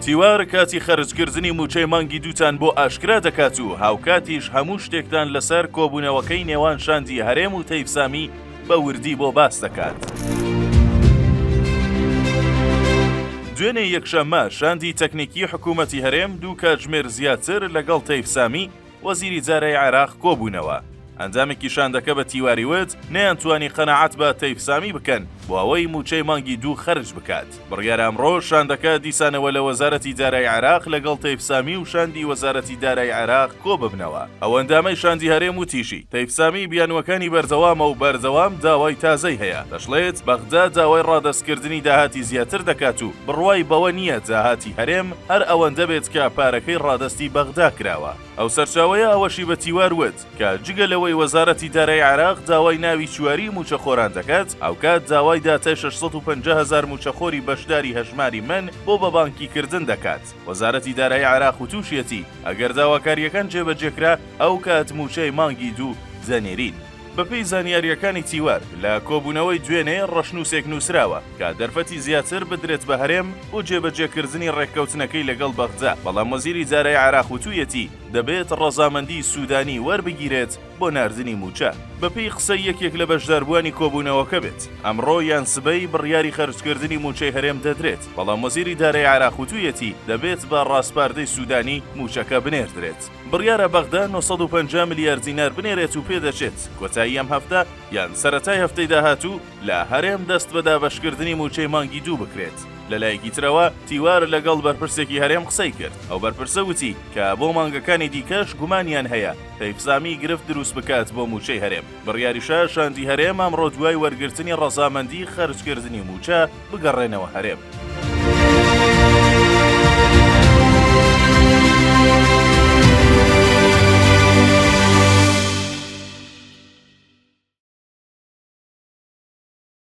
تیوار کاتی خەرجکردنی مووچەی مانگی دووتان بۆ ئاشکرا دەکات و هاوکاتیش هەموو شتێکتان لەسەر کۆبوونەوەکەی نێوان شاندی هەرێم و تەیفسامی بە وردی بۆ باس دەکات. دوێنێ یەکشەممە شاندی تەکنیکی حکوومەتی هەرێم دوو کاتژمێر زیاتر لەگەڵ تەیفسامی وەزیری جارەی عێراق کۆبوونەوە. ئەندامێکی شاندەکە بە تیواری وت، نەیانتوانی قەناعەت بە تەیف سامی بکەن بۆ ئەوەی مووچەی مانگی دوو خەرج بکات. بڕیارە ئەمڕۆ شاندەکە دیسانەوە لە وەزارەتی دارای عێراق لەگەڵ تەیف سامی و شاندی وەزارەتی دارای عێراق کۆببنەوە. ئەو ئەندامەی شاندی هەرێم وتیشی، تەیف سامی بیانووەکانی بەردەوامە و بەردەوام داوای تازەی هەیە، دەشڵێت، بەغدا داوای ڕادەستکردنی داهاتی زیاتر دەکات و بڕوای بەوە نییە داهاتی هەرێم هەر ئەوەندە بێت کە پارەکەی ڕادەستی بەغدا کراوە. ئەو سەرچاوەیە ئەوەشی بە تیوار وت، کە جگە لەوەی وەزارەتی دارای عێراق داوای ناوی چواریی مووچەخۆران دەکات، هاوکات داوای داتای شەش سەد و پەنجا هەزار مووچەخۆری بەشداری هەژماری من بۆ بە بانکی کردن دەکات. وەزارەتی دارایی عێراق وتووشیەتی، ئەگەر داواکارییەکان جێبەجێکرا، ئەوکات مووچەی مانگی دوو دەنێرین. بەپێی زانیارییەکانی تیوەر، لە کۆبوونەوەی دوێنێ ڕەشنووسێک نووسراوە کە دەرفەتی زیاتر بدرێت بە هەرێم بۆ جێبەجێکردنی ڕێککەوتنەکەی لەگەڵ بەغدا، بەڵام وەزیری دارایی عێراق وتوویەتی دەبێت ڕەزامەندیی سوودانی وەربگیرێت بۆ ناردنی مووچە. بەپێی قسەی یەکێک لە بەشداربووانی کۆبوونەوەکە بێت، ئەمڕۆ یان سبەی بڕیاری خەرجکردنی مووچەی هەرێم دەدرێت، بەڵام وەزیری دارایی عێراق وتوویەتی دەبێت بە ڕاسپاردەی سوودانی مووچەکە بنێردرێت. بڕیارە بەغدا نۆ سەد و پەنجا ملیار دینار بنێرێت و پێدەچێت کۆتایی ئەم هەفتە یان سەرەتای هەفتەی داهاتوو لە هەرێم دەست بە دابەشکردنی مووچەی مانگی دوو بکرێت. لەلایەکی ترەوە تیوار لەگەڵ بەرپرسێکی هەرێم قسەی کرد، ئەو بەرپرسە وتی کە بۆ مانگەکانی دیکەش گومانیان هەیە پەیفزامی گرفت دروست بکات بۆ مووچەی هەرێم. بڕیاریشە شاندی هەرێم ئەمڕۆ دوای وەرگرتنی ڕەزامەندی خەرجکردنی مووچە، بگەڕێنەوە هەرێم.